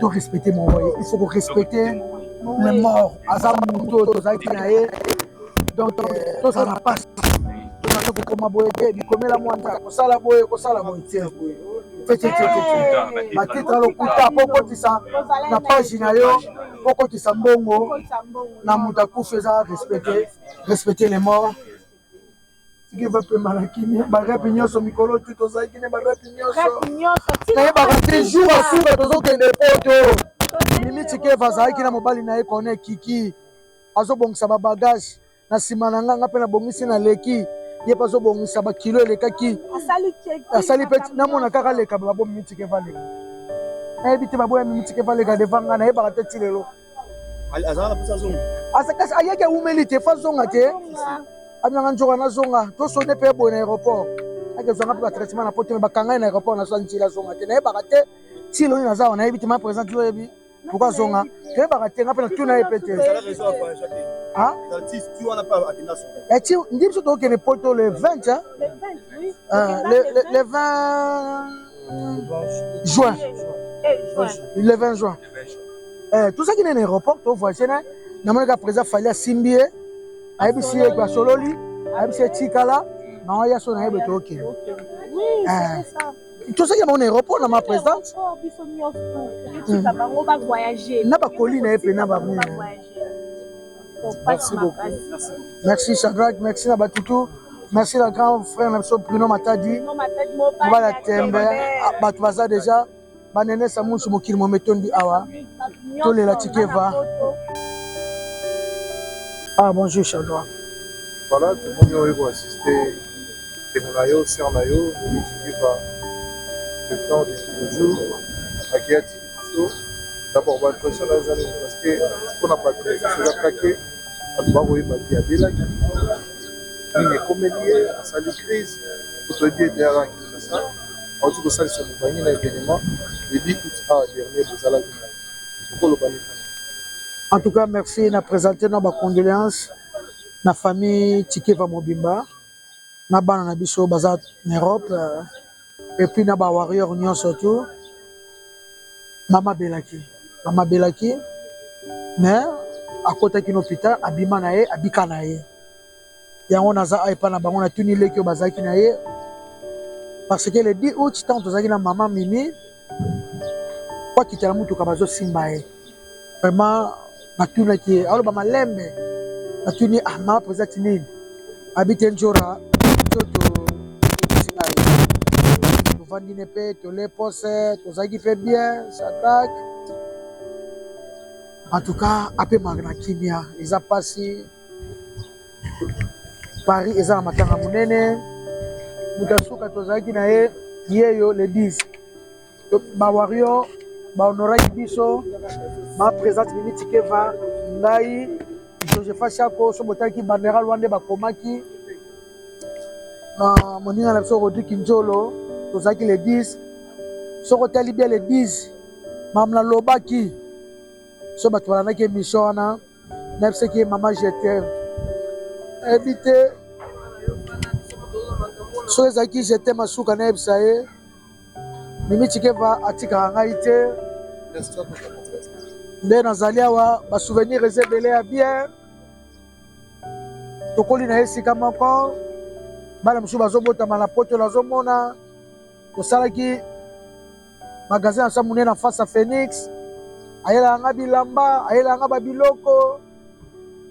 to respecte moko ye il faut ko respecte le mort aza moto oyo tozalaki na ye donc euh, tozala na pasi tozalaki kokoma boye te bikomela mwa nzala kosala boye kosala boye te batitre ya lokuta mpo okotisa na page na yo mpo okotisa mbongo na moto akufi eza respecte respecte le mort Tika ba pema na kimia ba rep nioso mikolo tout tozalaki na ba rep nioso nayebaka te jour ya suka tozokende poto mimi tikeva azalaki na mobali na ye kone kiki azobongisa ba bagage na nsima na nga nga mpe nabongisi na leki ye mpe azobongisa bakilo elekaki asali mpe namona kaka leka babo mimi tikeva leka nayebi te baboya mimi tikeva leka deva nga nayebaka te ti lelo azalaka mposa azonga asakasi ayaki awumeli te fa zonga te abinanga nzoka nazonga tosone mpe boye na aéroport akezwanga mpe batraitement na poto me bakangai na aéroport nazwa nzela azonga te nayebaka te ti elongi naza awa nayebi te ma présent ti oyebi pourkui azonga toyebaka te nga mpe natuna ye mpe te ti ndi biso tokokende poto le 20 le 20 juin le 20 juin eh, tozalaki na aéroport to voyage na namoni ka président fali asimbi ye ayebisi ye basololi ayebisi ye tikala bango ya so na ye boye tokende tozalaki na bango na aéroport na ma présidente na bakoli na ye mpe na bamina Merci beaucoup. Merci Shadrach, merci na Batutu. Merci na grand frère na biso Bruno Matadi. Mobala Tembe, ah, bato baza déjà Ba nene sa munsu mokili momi tondi awa to lela tshikeva. Ah bonjour Chadra. Voilà tout le monde est assisté. Temo na yo, sœur na yo, ni tshikeva. Le temps de toujours akiati biso d'abord ba pression na zali parce que pour na battre c'est la plaquer bato bakoyeba te abelaki nini ekomeli ye asali crise otoyebi ete alaki Vincent awuti kosalisa mobange na evenement Baby aout awa dernier bozalaki na ye oko loba nini pona ye? En tout cas merci na presenter nao ba condoleances na famille Tshikeva mobimba na bana na biso baza na Europe et puis na ba warrior nionso tout mama belaki mama belaki mais akotaki na hopital abima na ye abika na ye. yango naza a epa na bango na tuni leki oyo bazalaki na ye parce que le 10 août ntango tozalaki na mama mimi po akita na motuka bazosimba ye vraiment natunaki ye aloba malembe natuni ah mama mpenza ti nini abi te njora toto okosinga ye tovandi ne mpe tole pose tozalaki mpe bien sadrake en tout cas apemaka na kimia eza mpasi Paris eza na matanga monene moto ya suka tozalaki na ye yeyo le 10 ba wario bahonoraki biso ba présente mimi tikeva ngai josepha shako so botaki bandera lwa nde bakomaki na moninga na biso rodri kinjolo tozalaki le 10 soki otali bia le 10 mamla lobaki so bato balandaki emission wana Nayebisaki ye mama je t'aime. Ayebi te. Soki ezalaki je t'aime ya suka nayebisa ye. Mimi Tshikeva atikaka ngai te. Nde nazali awa ba souvenirs eza ebele ya bien. Tokoli na ye esika moko. Bana mosusu bazobotama na poto nazomona. Tosalaki magasin asa munene en face ya Phoenix ayelaka nga bilamba ayelaka nga babiloko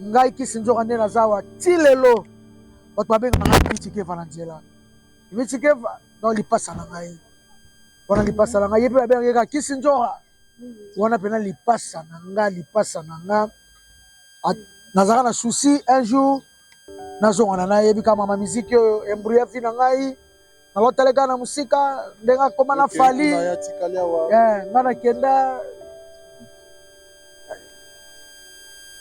ngai kisi nzoka nde naza awa ti lelo bato babengaka ngai mitikeva na nzela mitikeva donc lipasa na ngai wana lipasa na ngai ye mpe babengaka ye kaka kisi nzoka wana mpena lipasa na nga lipasa na nga nazalaka na souci un jour nazongana nayebi kaka mama miziki oyo embrouya vi na ngai nakotaleka na mosika ndenge akoma na fali eh, nga nakenda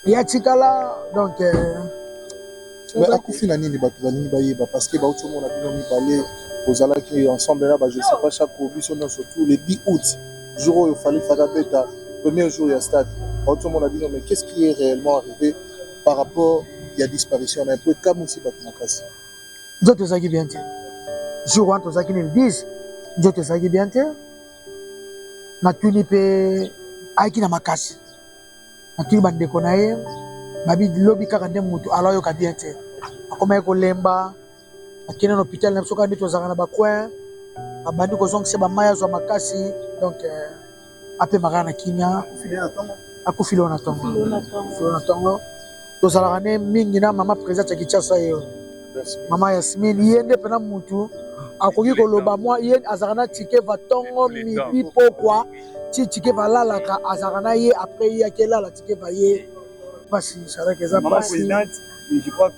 ya tikala donc eh, akufi na nini bato balingi bayeba parce que bauti omona bino mibale ozalaki ensemble là-bas, je sais pas chaque biso non surtout le 10 août jour oyo fallait faka beta premier jour ya stade aotomona bino mais qu'est-ce qui est réellement arrivé par rapport ya disparition na ye po ekamwisi bato makasi nzoto ezalaki bien te jour wana tozalaki nini 10 nzoto ezalaki bien te natuni mpe ayaki na makasi natuni bandeko na ye babi lobi kaka nde motu alo ayoka bien te akomaki kolemba akende na hôpital na biso kaka nde tozalaka na bacoin abandi kozongisa bamai azwa makasi donc euh, apema kaka na kimia akufi lelo na tongo lelo na tongo tozalaka ne mingi na mama président ya kinshasa ye mama yasmine ye nde mpena mutu akoki koloba mwa ye azalaka na tike va tongo midi pokwa ti tike valalaka azalaka na ye apres ye akelala tike va ye mpasi salaka eza mpasi je crois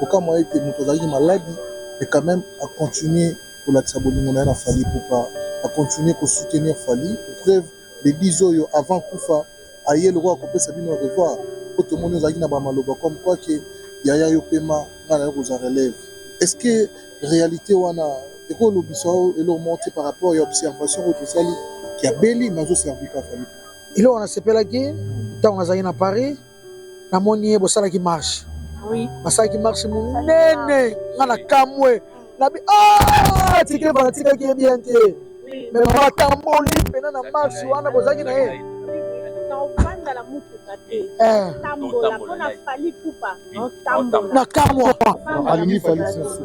Kokamwa ete mutu azalaki maladi mais quand meme a continuer kolakisa bolingo naye na Fally Ipupa, a continuer ko soutenir Fally, pour preuve le 10 oyo avant akufa aye lokola kopesa bino au revoir po tomoni ozalaki na ba maloba comme quoi que yaya yo pema ngai nayo kozwa relève. Est ce que realite wana eko lobisa yo eloko moko te par rapport ya observation oyo tosali que abeli mais azo servir kaka Fally Ipupa? Eloko nasepelaki tango nazalaki na Paris. namoni ye bosalaki marche basalaki marche monene nga na kamwe nabi ah, tike banatikaki ye bien te me matamboli mpena na marche wana bozalaki na ye na kamwa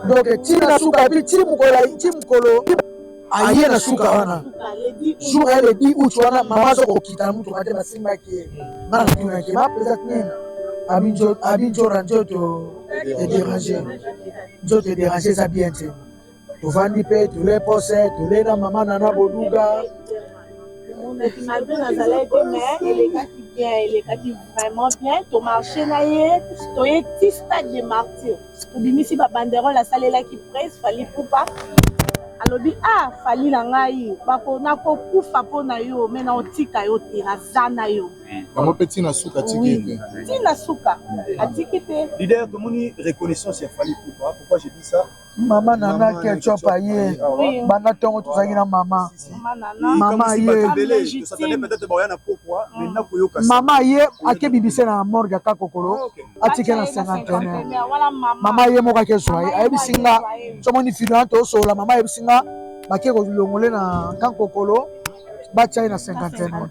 donc ti na suka ti mokolo aye na suka wana jour aye le 10 août wana mama aza kokita na motuka te basimbaki ye nga natunaki ye bapeza nini abi njora nzoto ederange nzoto ederange eza bien te tovandi mpe tole pose tole na mama nana boduga malgré nazalaki te mais elekaki bien elekaki vraiment bien tomarche na ye toye ti stade de martyre Tobimisi ba banderole asalelaki prez Fally Ipupa alobi ah Fally na ngai bako nako kufa po na yo mais nao tika yo te naza na yo yango pe tina suka atiki ye te tina suka atiki te leader tomoni reconnaissance ya Fally Ipupa pourquoi je dis ça mama nana ketchup aye banda ntongo tozalaki na mama maman ye ake bibise na morgue aka kokolo atike na cinquantenaire maman ye moko ake zwa ye ayebisi nga somoni fido ante osola maman ayebisi nga bake kolongole na kan kokolo batya ye na cinquantenaire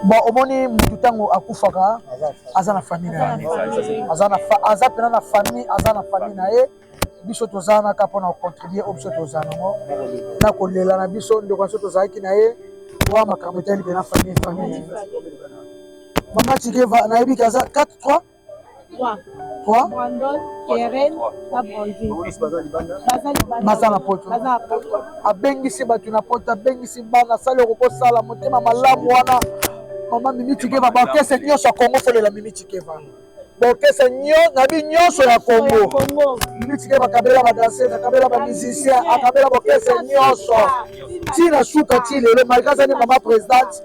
bon omoni mutu ntango akufaka aza na famille na ye aza pena na famille aza na famille na ye biso toza wana kaka mpona kocontribue oyo biso toza nango na kolela na biso ndeko na biso tozalaki na ye owa makambo etali mpena famille famille mama cikeva nayebi kaza 4 3 3 Brandon, Keren, na Brandine. Baza libanda. baza na poto Baza na poto. abengisi bato na poto abengisi bana asali okoki kosala motema malamu wana mama mimi cikeva baorkestre nyonso ya kongo folela mimi cikeva bokese na bi nyonso ya Congo mitike bakabela ba danseurs akabela ba musiciens akabela bokese nyonso ti na suka ti lelo malgré azali mama presidente